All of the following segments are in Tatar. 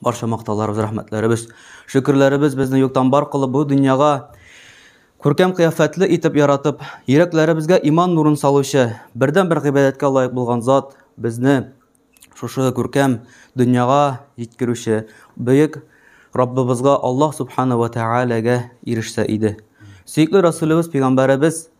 Барча мактауларыбыз, рәхмәтләребез, шөкерләребез безне юктан бар кылып бу дөньяга күркәм кыяфәтле итеп яратып, йөрәкләребезгә иман нурын салучы, бердән-бер гыйбадәткә лаек булган зат безне шушы күркәм дөньяга җиткерүче бөек Раббыбызга Аллаһ субхана ва тәгаләгә ирешсә иде. Сөекле Расулыбыз пәйгамбәребез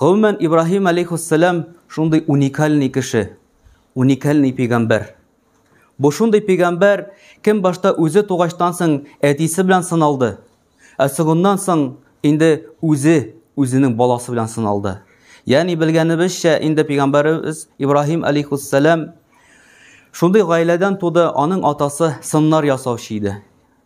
Гомумән, Ибраһим алейхиссалам шундый уникальный кеше, уникальный пигамбәр. Бу шундый пигамбәр, кем башта үзе тугачтан соң әтисе белән сыналды, ә соңыннан соң инде үзе үзенең баласы белән сыналды. Ягъни белгәнебезчә, инде пигамбәребез Ибраһим алейхиссалам шундый гаиләдән туды, аның атасы сыннар ясаучы иде.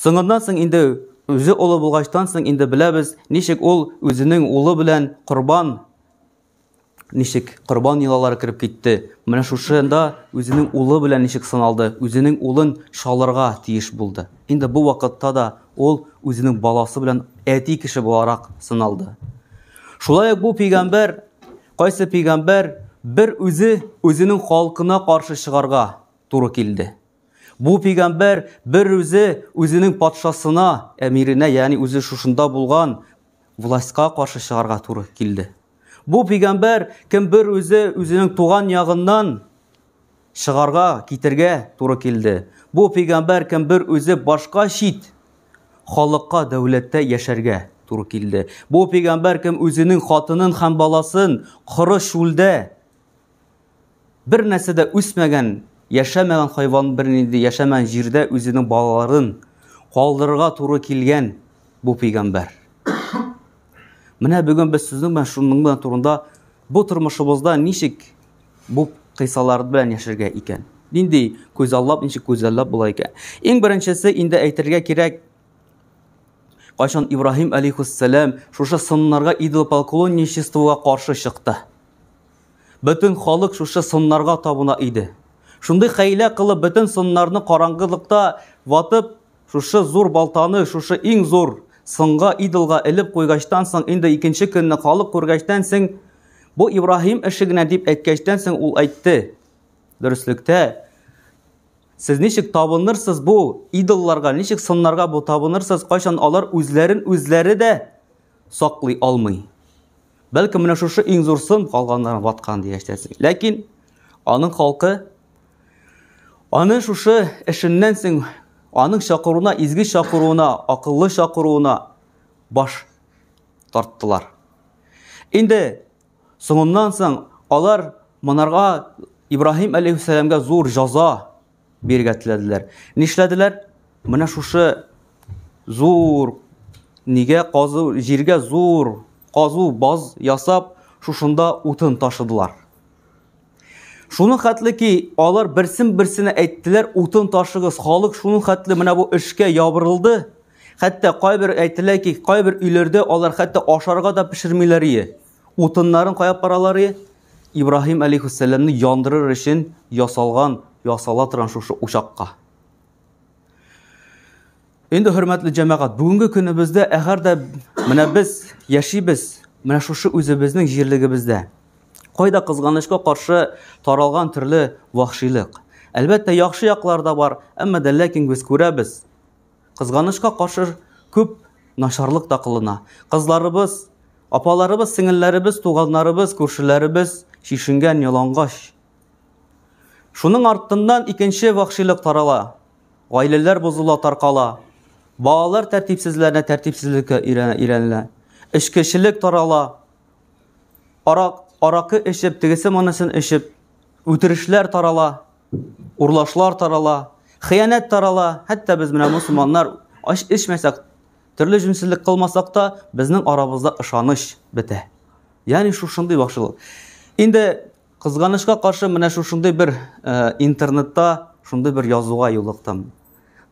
Соңыннан соң инде үзе олы булгачтан соң инде беләбез, ничек ул үзенең улы белән корбан ничек корбан елалары кереп китте. Менә шушында үзенең улы белән ничек сыналды, үзенең улын шалырга тиеш булды. Инде бу вакытта да ул үзенең баласы белән әти кеше буларак сыналды. Шулай ук бу пигамбер, кайсы пигамбер бер үзе үзенең халкына каршы чыгарга туры килде. Бу пигамбәр бер үзе үзенең патшасына, әмиренә, ягъни үзе шушында булган властька каршы чыгарга туры килде. Бу пигамбәр кем бер үзе үзенең туган ягыннан чыгарга, китергә туры килде. Бу пигамбәр кем бер үзе башка чит халыкка дәүләттә яшәргә туры килде. Бу пигамбәр кем үзенең хатынын һәм баласын коры шулдә Бер нәрсә дә үсмәгән, яшәмәгән хайван бернинди яшәмәгән җирдә үзенең балаларын калдырырга туры килгән бу пәйгамбәр. Менә бүген без сезнең белән шуның белән турында бу тормышыбызда ничек бу кыйсалар белән яшәргә икән? Нинди күзаллап, ничек күзаллап була икән? Иң беренчесе инде әйтергә кирәк, кайчан Ибраһим алейхиссалам шушы сыннарга идолопоклонничествога каршы чыкты. Бөтен халык шушы сыннарга табына иде. Шундый хәйлә кылып, бөтен сыннарны караңгылыкта ватып, шушы зур балтаны, шушы иң зур сынга, идолга элеп куйгачтан соң, инде икенче көнне халык күргәчтән соң, бу Ибраһим эше генә дип әйткәчтән соң, ул әйтте, дөреслектә, Сез ничек табынырсыз бу идолларга, ничек сыннарга бу табынырсыз, кайчан алар үзләрен үзләре дә саклый алмый. Бәлкем менә шушы иң зур сын калганнарын ваткан дигәч тә. Ләкин аның халкы аны шушы эшеннән соң аның чакыруына, изге чакыруына, акыллы чакыруына баш тарттылар. Инде соңыннан соң алар монарга Ибраһим алейхиссәламгә зур җаза Биргә теләделәр. Нишләделәр? Менә шушы зур нигә казу, җиргә зур казу баз ясап, шушында утын ташыдылар. Шуны хәтле ки, алар берсен берсенә әйттеләр, утын ташыгыз, халык шуны хәтле менә бу эшкә ябырылды. Хәтта кайбер әйтелә ки, кайбер өйләрдә алар хәтта ашарга да пешермиләр ие. Утыннарын кая паралары? Ибраһим алейхиссәламне яндырыр өчен ясалган, ясала торган шушы учакка. Инде хөрмәтле җәмәгать, бүгенге көнебездә әгәр дә менә без яшибез, менә шушы үзебезнең җирлегебездә. Кайда кызганычка каршы таралган төрле вахшилык. Әлбәттә, яхшы яклар да бар, әмма дә ләкин без күрәбез, Кызганычка каршы, күп начарлык та кылына. Кызларыбыз, апаларыбыз, сеңелләребез, туганнарыбыз, күршеләребез чишенгән ялангач. Шуның артыннан икенче вахшилык тарала. Гаиләләр бозыла, таркала. Балалар тәртипсезләренә тәртипсезлеккә өйрәнелә. Эчкечелек тарала. Арак, аракы эчеп, тегесе монысын эчеп, үтерешләр тарала. урлашлар тарала, хыянәт тарала, хәтта без менә мусулманнар аш эчмәсәк, төрле җүнсезлек кылмасак та, безнең арабызда ышаныч бетә. Ягъни шушындый бакчылык. Инде кызганычка каршы менә шушындый бер э, интернетта шундый бер язуга юлыктым.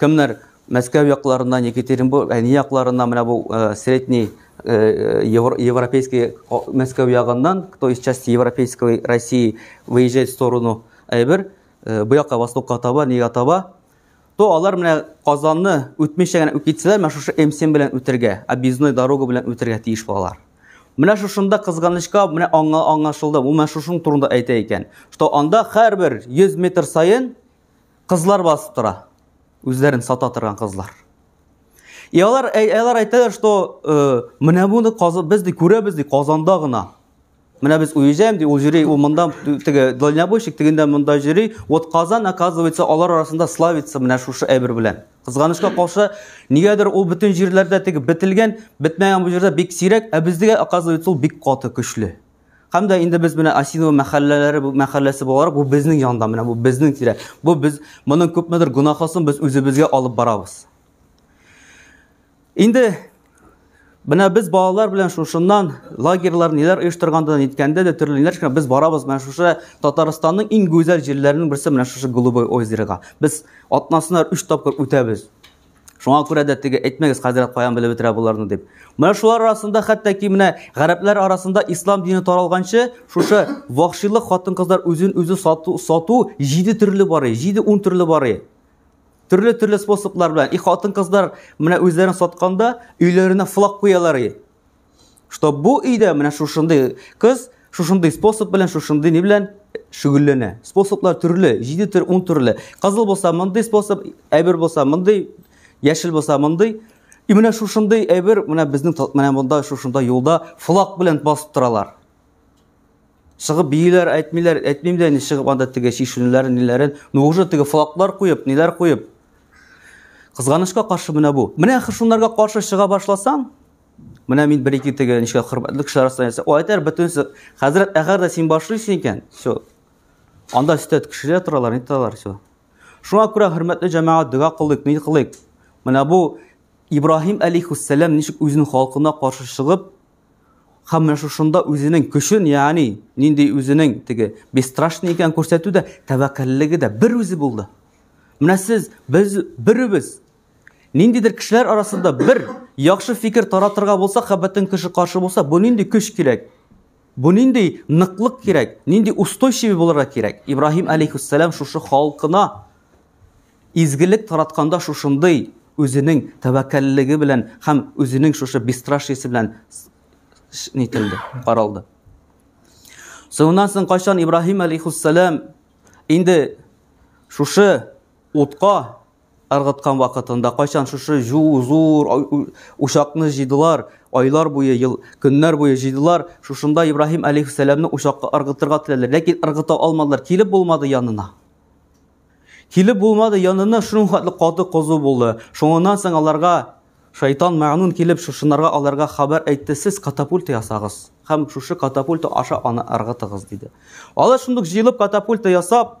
Кемнәр Мәскәү якларыннан, Екатеринбург, әни якларыннан, менә бу э, средний э, европейский Мәскәү ягыннан, кто из части европейской России выезжает в сторону Айбер, э, бу якка востокка таба, нигә таба, то алар менә Казанны үтмичә генә үткитсәләр, менә шушы М7 белән үтергә, объездной дорога белән үтергә тиеш булалар. Менә шушында кызганычка менә аңа аңлашылды. Бу менә шушының турында әйтә икән, что анда һәрбер 100 метр саен Кызлар басып тора. Үзләрен сата торган кызлар. И алар алар әйтәләр, что э, менә буны без ди күрәбез ди Казанда гына. Менә без уезжаем ди, ул җөри, ул монда теге дальнобойщик тегендә монда җөри. Вот Казан оказывается алар арасында славится менә шушы әйбер белән. Кызганычка каршы, нигәдер ул бөтен җирләрдә теге бетелгән, бетмәгән бу җирдә бик сирәк, ә бездә оказывается ул бик каты көчле. Һәм дә инде без менә Асинова мәхәлләләре бу мәхәлләсе буларак бу безнең янда менә бу безнең тирә. Бу без моның күпмедер гөнаһысын без үзебезгә алып барабыз. Инде менә без балалар белән шушыннан лагерьлар ниләр оештырганда ниткәндә дә төрле ниләр шуны без барабыз менә шушы Татарстанның иң гүзәл җирләренең берсе менә шушы Голубой озерога. Без атнасына 3 тапкыр үтәбез. Шуңа күрә дә теге әйтмәгез хәзрәт каян белеп бетерә боларны дип. Менә шулар арасында хәтта ки менә гарәпләр арасында ислам дине таралганчы шушы вахшилык хатын-кызлар үзен үзе сату, сату җиде төрле бары, җиде ун төрле бары. Төрле төрле способлар белән и хатын-кызлар менә үзләрен сатканда өйләренә флаг куялар. что бу өйдә менә шушындый кыз шушындый способ белән шушындый ни белән шөгыльләнә способлар төрле җиде төр ун төрле кызыл булса мондый способ әйбер булса мондый яшел булса мондый и менә шушындый әйбер менә безнең менә монда шушында юлда флаг белән басып торалар чыгып бииләр әйтмиләр әйтмим дә инде чыгып анда теге чишенүләрен ниләрен ну уже теге флаглар куеп ниләр куеп кызганычка каршы менә бу менә шунларга каршы чыга башласаң Менә мин бер ике теге ничә хөрмәтле кеше арасында ясап. Ул әйтер бөтенесе, хәзрәт, әгәр дә син башлыйсың икән, все. Анда өстә кешеләр торалар, ни торалар, все. Шуңа күрә хөрмәтле җәмәгать дога кылыйк, ни кылыйк. Менә бу Ибраһим алейхиссалам ничек үзен халкына каршы чыгып, һәм менә шушында үзенең көчен, ягъни нинди үзенең теге бесстрашный икән күрсәтү дә, тәвәккәллеге дә бер үзе булды. Менә сез, без, беребез, Ниндидер кешеләр арасында бер яхшы фикер таратырга булса, хәббәтен кеше каршы булса, бу нинди көч кирәк? Бу нинди ныклык кирәк? Нинди устойчивый булырга кирәк? Ибраһим алейхиссалам шушы халкына изгелек таратканда шушындый үзенең тәвәккәллеге белән һәм үзенең шушы бесстрашиесе белән нителде, каралды. Соңыннан соң кайчан Ибраһим алейхиссалам инде шушы утка Ыргыткан вакытында, кайчан шушы зур учакны җыйдылар, айлар буе, ел, көннәр буе җыйдылар, шушында Ибраһим әлейһиссәламне учакка ыргытырга теләделәр, ләкин ыргыта алмадылар, килеп булмады янына. Килеп булмады янына, шуның хәтле каты козу булды. Шуңыннан соң аларга Шайтан мәгънун килеп шушынарга аларга хәбәр әйтте, сез катапульта ясагыз һәм шушы катапульта аша аны ыргытыгыз диде. Алар шундук җыелып катапульта ясап,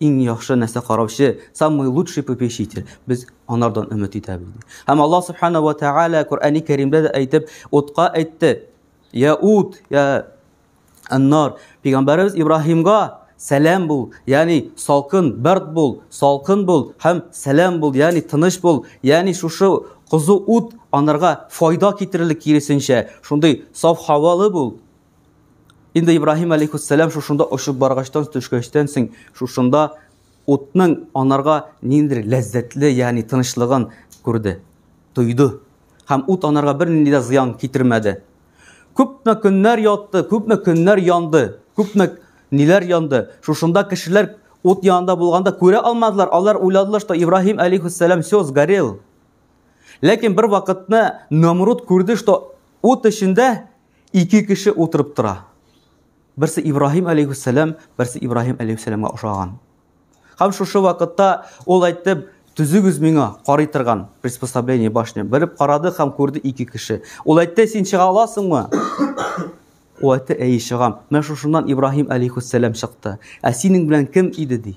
иң яхшы нәрсә караучы, самый лучший попечитель. Без анардан өмет итәбез. Һәм Аллаһ субхана ва тааля Коръәни Кәримдә дә әйтеп, утка әйтте. Я ут, я аннар. Пәйгамбәрбез Ибраһимга сәлам бул, ягъни салкын, бәрд бул, салкын бул һәм сәлам бул, ягъни тыныч бул, ягъни шушы кызу ут анарга файда китерерлек киресенчә, шундый саф һавалы бул. Инде Ибраһим алейхиссалам шушында очып баргачтан төшкәчтән соң шушында утның анарга ниндер ләззәтле, ягъни тынычлыгын күрде, тойды. Һәм ут анарга бернинди дә зыян китермәде. Күпме көннәр ятты, күпме көннәр янды, күпме ниләр янды. Шушында кешеләр ут янында булганда күрә алмадылар. Алар уйладылар, что Ибраһим алейхиссалам все сгорел. Ләкин бер вакытны Намруд күрде, что ут эчендә Ике кеше утырып тора. Берсе Ибраһим алейхиссәлам, берсе Ибраһим алейхиссәламга ошаган. Һәм шушы вакытта ул әйтте, төзегез миңа карый торган приспособление башня. Берип карады һәм күрде ике кеше. Ул әйтте, син чыга аласыңмы? Ул әйтте, әй чыгам. Менә шушыннан Ибраһим алейхиссәлам чыкты. Ә синең белән кем иде ди?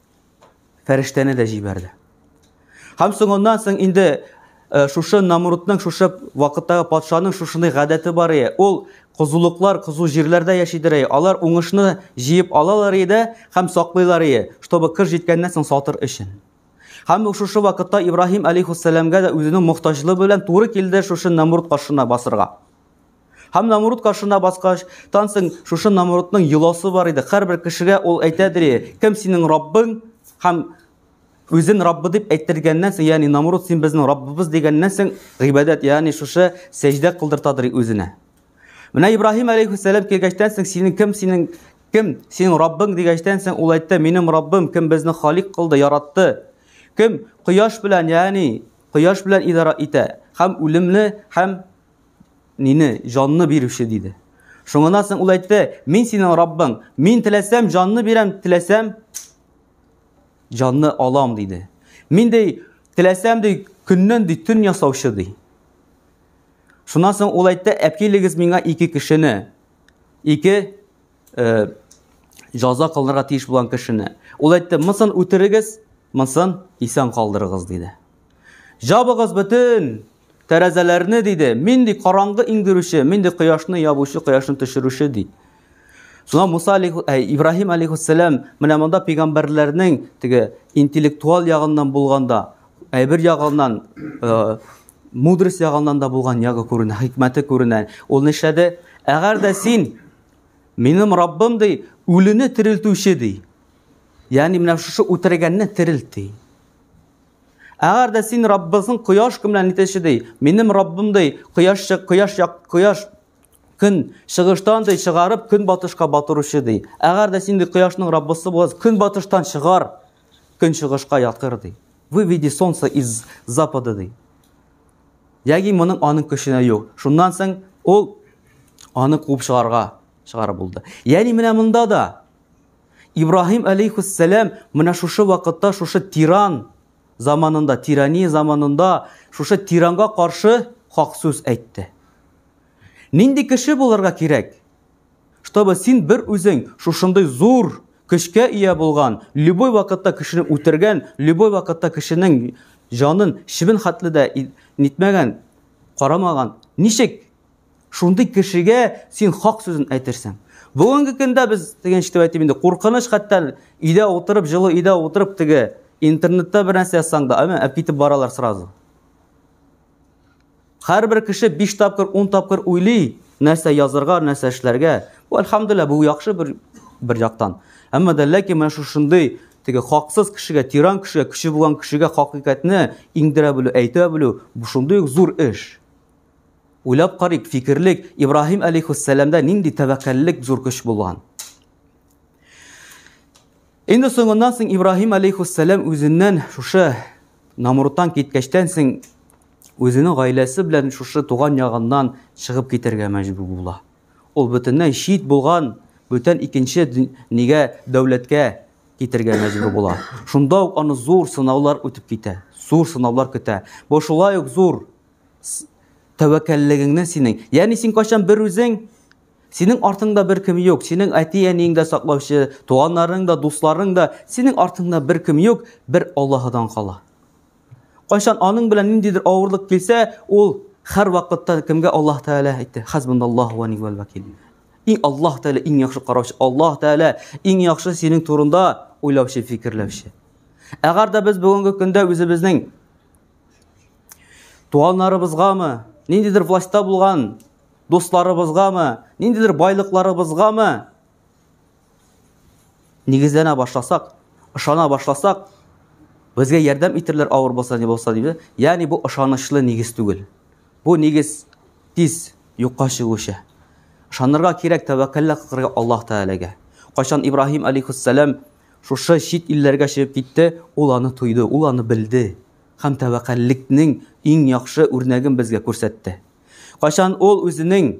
фәрештәне дә җибәрде. Һәм соңыннан соң инде э, шушы Намрудның, шушы вакыттагы патшаның шушындай гадәте бар ие. Ул кызулыклар, кызу җирләрдә яшидер ие. Алар уңышны җыеп алалар иде һәм саклыйлар ие, чтобы кыр җиткәннән соң сатыр өчен. Һәм шушы вакытта Ибраһим алейхиссәламгә дә үзенең мохтаҗлыгы белән туры килде шушы Намруд каршына басырга. Һәм Намруд каршына баскач, тансың, шушы Намрудның йоласы бар иде. Һәрбер кешегә ул әйтәдер, кем синең Раббың? Һәм үзен Раббы дип әйтергәннән соң, ягъни Намруд син безнең Раббыбыз дигәннән соң, гыйбадәт, ягъни шушы сәҗдә кылдыртадыр үзенә. Менә Ибраһим алейхиссалам килгәчтән соң, синең кем, синең кем, синең Раббың дигәчтән соң, ул әйтте, минем Раббым, кем безне халик кылды, яратты. Кем кояш белән, ягъни кояш белән идара итә, һәм үлемне, һәм Мине җанны бирүче диде. Шуңыннан соң ул әйтте, мин синең Раббың, мин теләсәм җанны бирәм, теләсәм җанны алам диде. Мин ди, теләсәм ди, көннән ди төн ясаучы ди. Шуннан соң ул әйтте, әпкилегез миңа ике кешене, ике э, жаза кылынырга тиеш булган кешене. Ул әйтте, мысын үтерегез, мысын исән калдырыгыз диде. Җабыгыз бөтен тәрәзәләрне, диде. Мин, ди, караңгы иңдерүче, мин, ди, кояшны ябучы, кояшны төшерүче, ди. Шуңа Муса алейхи, ә, Ибраһим алейхиссәлам менә монда пәйгамбәрләрнең теге интеллектуал ягыннан булганда, әйбер ягыннан, э, мудрость ягыннан да булган ягы күренә, хикмәте күренә. Ул нишләде? Әгәр дә син минем Раббым ди, үлене терелтүче ди. Ягъни менә шушы үтергәнне терелт ди. Әгәр дә син Раббызың кояш көн белән нитеше ди, минем Раббым ди, кояш кояш як кояш көн чыгыштан ди чыгарып көн батышка батыручы ди. Әгәр дә син ди кояшның Раббысы булсаң, көн батыштан чыгар, көн чыгышка ятыр ди. Выведи солнце из запада ди. Яги моның аның көченә юк. Шуннан соң ул аны куып чыгарга чыгарып булды. Яни менә монда да Ибраһим алейхиссәлам менә шушы вакытта шушы тиран заманында, тирания заманында шушы тиранга каршы хак сүз әйтте. Нинди кеше булырга кирәк? Чтобы син бер үзең шушындый зур көчкә ия булган, любой вакытта кешене үтергән, любой вакытта кешенең җанын шибен хатлы да нитмәгән, карамаган. Ничек Шундый кешегә син хак сүзен әйтерсең. Бүгенге көндә без дигән итеп әйтим инде, куркыныч хәтта өйдә утырып, җылы өйдә утырып теге интернетта бер нәрсә язсаң да, әмма әп китеп баралар сразу. Һәрбер кеше 5 тапкыр, 10 тапкыр уйлый, нәрсә язырга, нәрсә эшләргә. Бу альхамдулилла, бу яхшы бер бер яктан. Әмма дә ләкин менә шушындый теге хаксыз кешегә, тиран кешегә, кеше булган кешегә хакыйкатьне иңдерә белү, әйтә белү, бу шундый ук зур эш. Уйлап карыйк, фикерлек, Ибраһим алейхиссәламда нинди тәвәккәллек зур көч булган. Инде соңыннан соң Ибраһим алейхиссәлам үзеннән шушы Намурттан киткәчтән соң үзенең гаиләсе белән шушы туган ягыннан чыгып китәргә мәҗбүр була. Ул бөтенләй чит булган, бүтән икенче нигә дәүләткә китергә мәҗбүр була. Шунда ук аны зур сынаулар үтеп китә. Зур сынаулар көтә. Бу шулай ук зур тәвәккәллегеңнән синең. Ягъни син кайчан бер үзең Синең артыңда бер кем юк, синең әти-әниең дә саклаучы, туганнарың да, дусларың да, синең артыңда бер кем юк, бер Аллаһыдан кала. Кайчан аның белән ниндидер авырлык килсә, ул һәр вакытта кемгә Аллаһ Тәгалә әйтте? Хәзбуналлаһу ва ни'мәл вәкил. Иң Аллаһ Тәгалә иң яхшы караучы, Аллаһ Тәгалә иң яхшы синең турында уйлаучы, фикерләүче. Әгәр дә без бүгенге көндә үзебезнең Туганнарыбызгамы, ниндидер властьта булган дусларыбызгамы, ниндидер байлыкларыбызгамы нигезләнә башласак, ышана башласак, безгә ярдәм итерләр авыр булса не булса диде. Ягъни бу ышанычлы нигез түгел. Бу нигез тиз юкка чыгучы. Ышанырга кирәк тәвәккәлләр кылырга Аллаһ Тәгаләгә. Кайчан Ибраһим алейхиссалам шушы чит илләргә чыгып китте, ул аны тойды, ул аны белде. һәм тәвәккәллекнең иң яхшы үрнәген безгә күрсәтте. Кайчан ул үзенең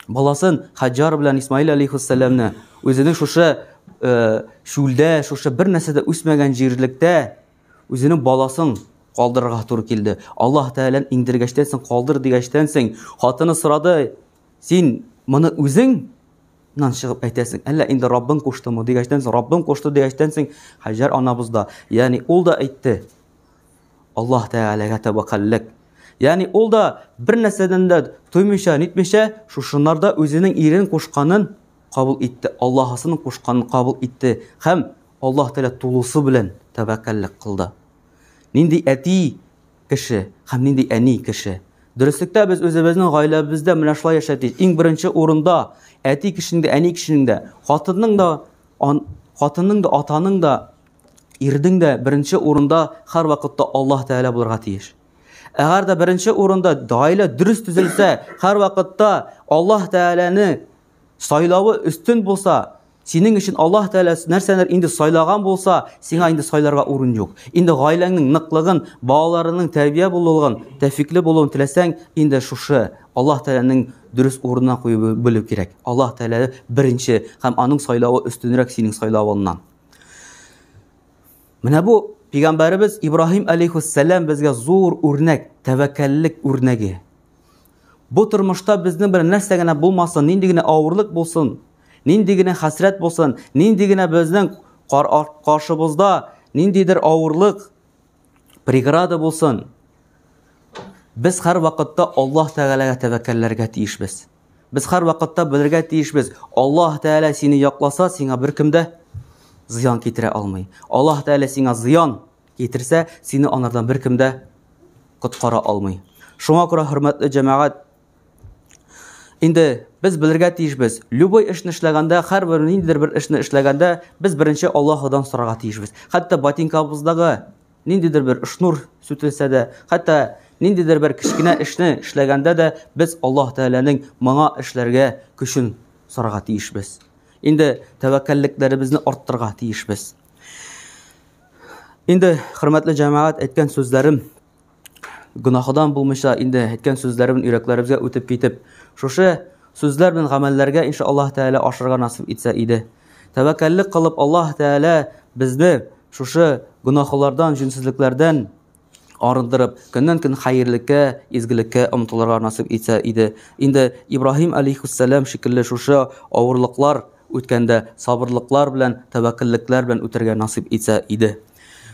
баласын Хаҗар белән Исмаил алейхиссәламне үзенең шушы шүлдә, э, шушы бер нәрсә дә үсмәгән җирлектә үзенең баласын калдырырга туры килде. Аллаһ Тәгалән иңдергәчтән соң калдыр дигәчтән соң хатыны сорады, Син моны үзең Нан чыгып әйтәсең, әллә инде Раббың куштымы дигәчтән соң, Раббым кушты дигәчтән соң, Хаҗар анабыз да, ягъни ул да әйтте. Аллаһ Тәгаләгә тәвәккәллек. Ягъни ул да бер нәрсәдән дә туймыйча, нитмичә, шушынарда үзенең ирен кушканын кабул итте, Аллаһысын кушканын кабул итте һәм Аллаһ Тәгалә тулысы белән тәвәккәллек кылды. Нинди әти кеше һәм нинди әни кеше. Дөреслектә без үзебезнең гаиләбездә менә шулай яшәтик. Иң беренче урында әти кешенең дә, әни кешенең дә, хатынның да, ан, хатынның да, атаның да, ирдең дә беренче урында һәр вакытта Аллаһ Тәгалә булырга тиеш. Әгәр дә беренче урында гаилә дөрес төзелсә, һәр вакытта Аллаһ Тәгаләне сайлавы өстен булса, Синең өчен Аллаһ Тәгалә нәрсәләр инде сайлаган булса, сиңа инде сайларга урын юк. Инде гаиләңнең ныклыгын, балаларының тәрбия булуын, тәфикле булуын теләсәң, инде шушы Аллаһ Тәгаләнең дөрес урынына куеп белү кирәк. Аллаһ Тәгалә беренче һәм аның сайлавы өстенрәк синең сайлавыңнан. Менә бу пигамбәребез Ибраһим алейхиссалам безгә зур үрнәк, тәвәккәллек үрнәге. Бу тормышта безнең белән нәрсә генә булмасын, нинди генә авырлык булсын, Нинди генә хәсрәт булсын, нинди генә безнең каршыбызда ниндидер авырлык, преграда булсын, без һәр вакытта Аллаһ Тәгаләгә тәвәккәлләргә тиешбез. Без һәр вакытта белергә тиешбез, Аллаһ Тәгалә сине якласа, сиңа беркем дә зыян китерә алмый. Аллаһ Тәгалә сиңа зыян китерсә, сине анардан беркем дә коткара алмый. Шуңа күрә хөрмәтле җәмәгать, Инде без белергә тиешбез. Любой эшне эшләгәндә, һәрбер ниндидер бер эшне эшләгәндә, без беренче Аллаһудан сорарга тиешбез. Хәтта ботинкабыздагы ниндидер бер шнур сүтелсә дә, хәтта ниндидер бер кечкенә эшне эшләгәндә дә без Аллаһ Тәгаләнең моңа эшләргә көчен сорарга тиешбез. Инде тәвәккәллекләребезне арттырырга тиешбез. Инде хөрмәтле җәмәгать әйткән сүзләрем Гөнаһыдан булмыйча инде әйткән сүзләребез йөрәкләребезгә үтеп китеп, шушы сүзләр белән гамәлләргә иншаллаһ тәгалә ашырга насыйп итсә иде. Тәвәккәллек кылып Аллаһ тәгалә безне шушы гөнаһлардан, җүнсезлекләрдән арындырып, көннән-көн хәерлеккә, изгелеккә омтылырга насыйп итсә иде. Инде Ибраһим алейһиссәлам шикелле шушы авырлыклар үткәндә сабырлыклар белән, тәвәккәллекләр белән үтәргә насыйп итсә иде.